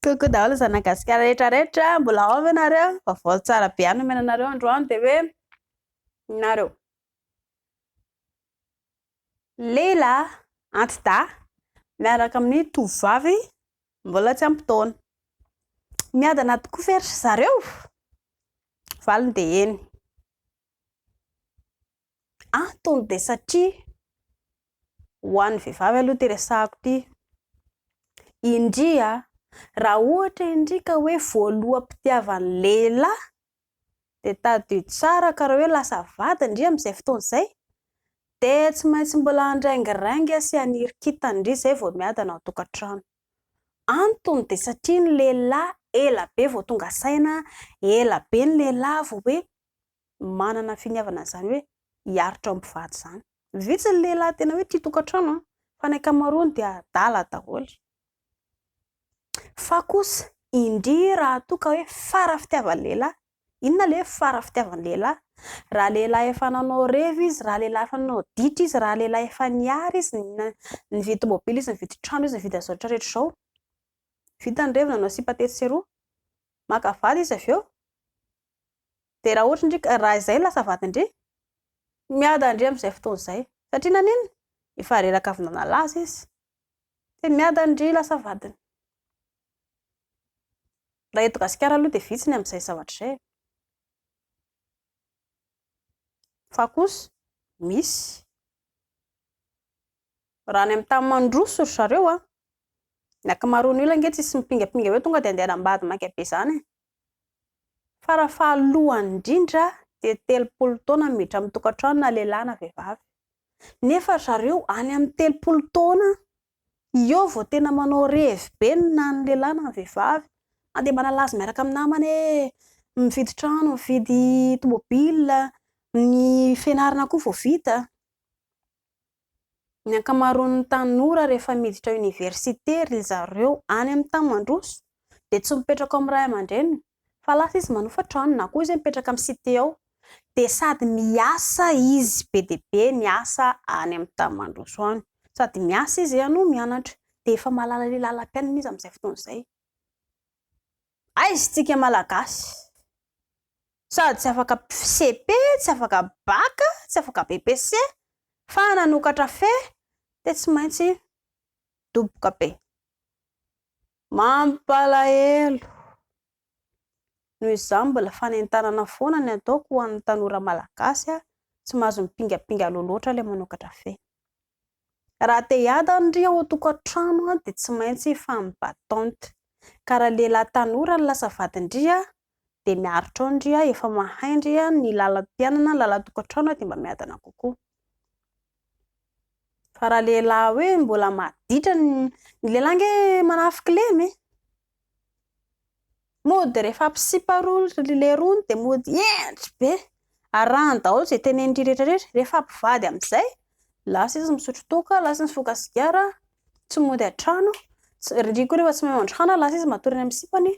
Coucou daholo zana gasikara rehetra rehetra mbola ao ve nareo vaovao tsara be any omena nareo androany de hoe nareo lela antida miaraka amin'ny tovovavy mbola tsy ampitaona miadana tokoa fery zareo valiny de eny Antony dia satria ho an'ny vehivavy aloha ity resahako ity. Indria, raha ohatra indria ka hoe voaloham-pitiavan'ny lehilahy, dia tadidio tsara ka raha hoe lasa vady indria amin'izay fotoana izay, dia tsy maintsy mbola handraingirainga sy haniry kintana indria izay vao miadana ao an-tokantrano. Antony dia satria ny lehilahy ela be vao tonga saina, ela be ny lehilahy vao hoe manana finiavana izany hoe hiaritra ao mpivady izany. Vitsy ny lehilahy tena hoe tia tokantrano an, fa ny ankamaroany dia adala daholo. Fa kosa indria raha toa ka hoe fara fitiavan'ny lehilahy, inona ilay hoe fara fitiavan'ny lehilahy? Raha lehilahy efa nanao revy izy, raha lehilahy efa nanao ditra izy, raha lehilahy efa niary izy, nividy tomobily izy, nividy trano izy, nividy an'izao rehetra rehetra izao. Vita ny reviny nanao sipa tetsy sy eroa, maka vady izy avy eo. Dia raha ohatra ndry ka, raha izay no lasa vadin-dry, miada ndry amin'izay fotoana izay. Satria naninona? Efa reraka avy nanala azy izy. Dia miada ndry lasa vadiny. Raha eto Gasikara aloha dia vitsy ny amin'izay zavatra izay e. Fa kosa misy. Raha any amin'ny tany mandroso ry zareo an, ny ankamaroan'ny olona ange tsisy mipingampinga hoe tonga dia andeha hanambady maika be izany e. Fara fahalohany indrindra dia telopolo taona miditra amin'ny tokantrano na lehilahy na vehivavy. Nefa ry zareo any amin'ny telopolo taona eo vao tena manao revy be na ny lehilahy na ny vehivavy. Na dia manalaza miaraka amin'ny namany hoe mividy trano, mividy tomobil, ny fianarana koa vao vita. Ny ankamaroan'ny tanora rehefa miditra oniversite ry zareo any amin'ny tany mandroso dia tsy mipetraka ao amin'ny ray aman-dreniny fa lasa izy manofa trano na koa izy mipetraka amin'ny cité ao dia sady miasa izy be dia be miasa any amin'ny tany mandroso any, sady miasa izy no mianatra dia efa mahalala ny lalam-piainana izy amin'izay fotoana izay. Aiza isika malagasy? Sady tsy afaka CP, tsy afaka bac, tsy afaka BPC, fa nanokatra fe dia tsy maintsy midoboka be. Mampalahelo. Noho izany mbola fanentanana foana ny ataoko ho an'ny tanora malagasy, tsy mahazo mipingapinga aloha loatra ilay manokatra fe. Raha te hiady any ry ao an-tokantrano dia tsy maintsy hifampy batente. Ka raha lehilahy tanora no lasa vadin-dry dia miaritra ao ny ry, efa mahay ny ry ny lalam-piainana, ny lalan-tokantrano dia mba miadana kokoa. Fa raha lehilahy hoe mbola maditra ny, ny lehilahy ange manafik'ilema e! Mody rehefa ampisipa roa ry lerony dia mody hendry be. Arahany daholo izay tenenindry rehetra rehetra. Rehefa mpivady amin'izay, lasa izy misotro toaka, lasa izy mifoka sigara, tsy mody an-trano. Ry koa rehefa tsy mahay mandroana, lasa izy matory any amin'ny sipany.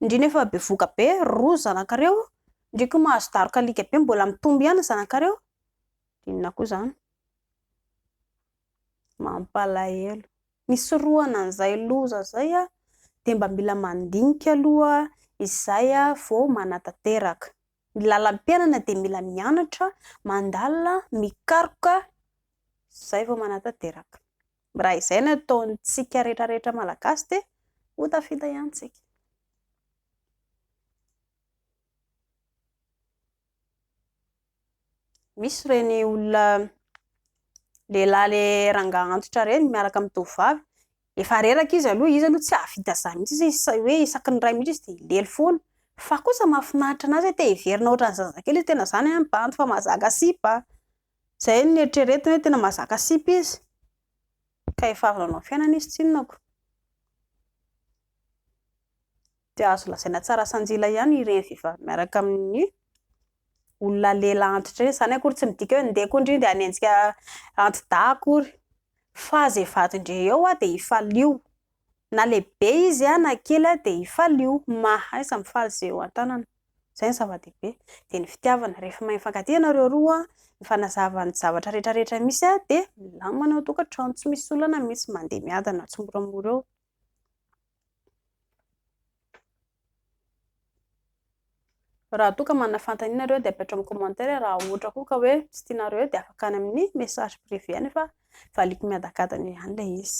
Ndry nefa bevohoka be, roa ry zanakareo, ndry koa mahazo daroka alika be, mbola mitombo ihany ny zanakareo. Inona koa izany? Mampalahelo. Nisorohana an'izay loza izay dia mba mila mandinika aloha izay vao manatanteraka. Ny lalam-piainana dia mila mianatra, mandalina, mikaroka izay vao manatanteraka. Raha izay no ataontsika rehetrarehetra Malagasy dia ho tafita ihany tsika. Misy ireny olona lehilahy le rangahy antitra ireny miaraka amin'ny tovovavy. Efa reraka izy aloha, izy aloha tsy hahavita izany mihitsy izy, izy sahy hoe isaky ny iray minitra izy dia lely foana. Fa kosa mahafinaritra anazy hoe te hiverina ohatran'ny zazakely izy, tena izany an, mibanjy fa mahazaka sipa. Izay no eritreretiny hoe tena mahazaka sipa izy. Ka efa avy nanao fiainana izy tsy inona ko. Dia azo lazaina tsara sanjila ihany ireny vehivavy miaraka amin'ny olona lela antitra ireny. Izany akory tsy midika hoe ndeha koa ndry dia hanenjika anti-dahy akory. Fa izay vadin-dry eo dia hifalio. Na lehibe izy na kely dia hifalio. Mahaiza mifaly izay eo an-tanana. Izay no zava-dehibe. Dia ny fitiavana. Rehefa mahay mifankatia ianareo roa, mifanazava ny zavatra rehetrarehetra misy dia milamina ny ao an-tokantrano. Tsy misy olana mihitsy mandeha miadana tsimoramora eo. Raha toa ka manana fanontaniana nareo dia apetrao amin'ny commentaire raha ohatra koa ka hoe tsy tianareo eo dia afaka any amin'ny message privé any fa valiako miadankadana ihany ilay izy.